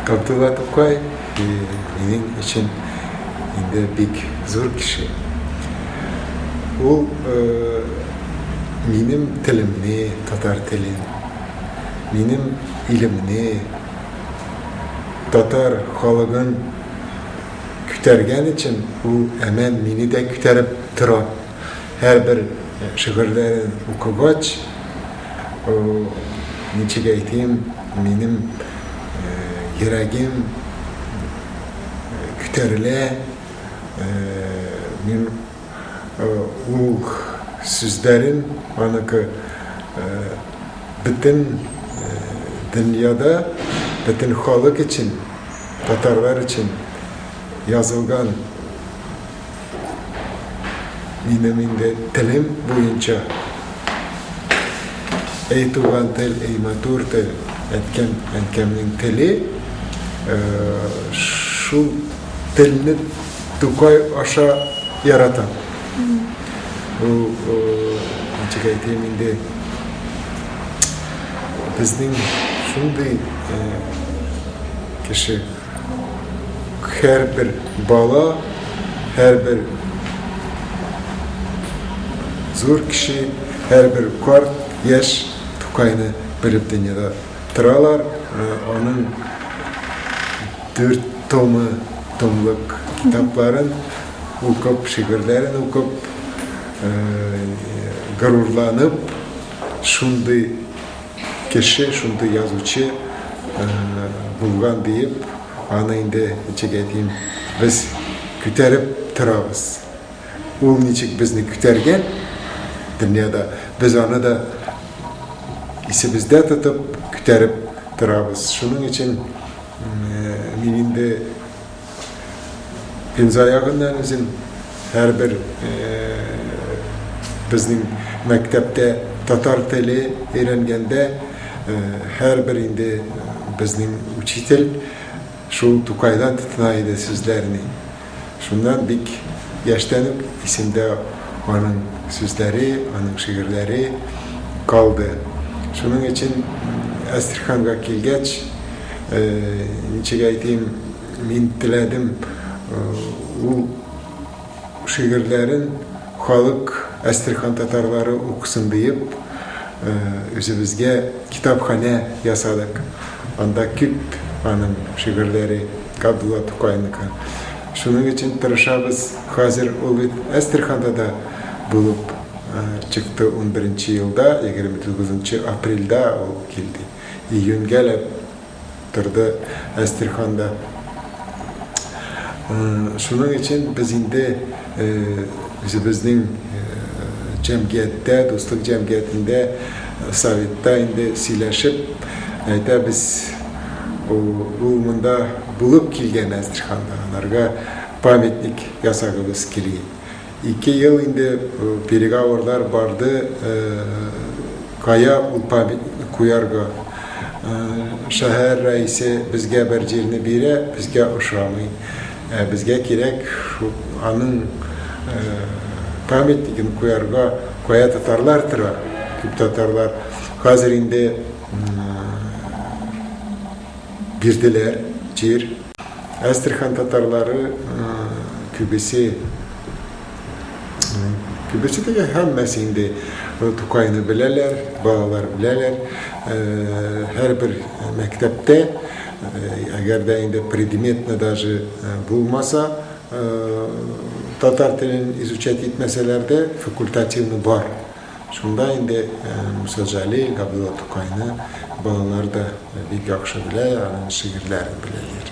Абдулла Тукай минем өчен инде бик зур кеше. Ул э, минем телемне, татар телен, минем илемне, татар халыгын күтәргән өчен ул әмән мине дә күтәреп тора. һәрбер шигырьләрен укыгач, ничек әйтим, минем йөрәгем күтәрелә, мин ул сүзләрен аныкы бөтен дөньяда, бөтен халык өчен, татарлар өчен язылган. Минем инде телем буенча Әй туган тел, әй матур тел, әткәм, әнкәмнең теле, э, шул телне Тукай аша яратам. Ул, э, ничек әйтәм инде, безнең шундый э, кеше. һәрбер бала, һәрбер зур кеше, һәрбер карт, яшь Тукайны белеп дөньяда торалар. Э, аның дүрт томы, томлык китапларын укып, шигырьләрен укып, э, горурланып, шундый Кеше шундый язучы булган диеп аны инде ничек әйтим без күтәреп торабыз. Ул ничек безне күтәргән дөньяда без аны да исебездә тотып күтәреп торабыз. Шуның өчен мин инде. Инзаягыннан үзем һәрбер безнең мәктәптә татар теле өйрәнгәндә һәрбер инде безнең учитель шул Тукайдан тотына иде сүзләрне. Шуннан бик яшьтән үк исемдә аның сүзләре, аның шигырьләре калды. Шуның өчен Әстерханга килгәч, Ничек әйтим, мин теләдем ул шигырьләрен халык, Әстерхан татарлары укысын диеп, үзебезгә китапханә ясадык. Анда күп аның шигырьләре, Габдулла Тукайныкы. Шуның өчен тырышабыз. Хәзер ул бит Әстерханда да булып чыкты. Унберенче елда, егерме тугызынчы апрельдә ул килде. Июньгә лә торды Әстерханда. Шуның өчен без инде үзебезнең җәмгыятьтә, дуслык җәмгыятендә, советта инде сөйләшеп әйтәбез, ул монда булып килгән Әстерханда, аларга памятник ясагыбыз кили. Ике ел инде переговорлар барды, кая ул памятник куярга. Шәһәр рәисе безгә бер җирне бирә, безгә ошамый. Ә безгә кирәк аның памятнигын куярга, кая татарлар тора, күп татарлар хәзер инде. Бирделәр җир. Әстерхан татарлары күбесе, күбесе дигән һәммәсе инде Тукайны беләләр, балалар беләләр. Һәрбер мәктәптә, әгәр дә инде предметны даже булмаса, татар телен изучать итмәсәләр дә, факультативны бар. Шунда инде Муса Җәлил, Габдулла Тукайны балалар да бик яхшы белә, аның шигырьләрен беләләр.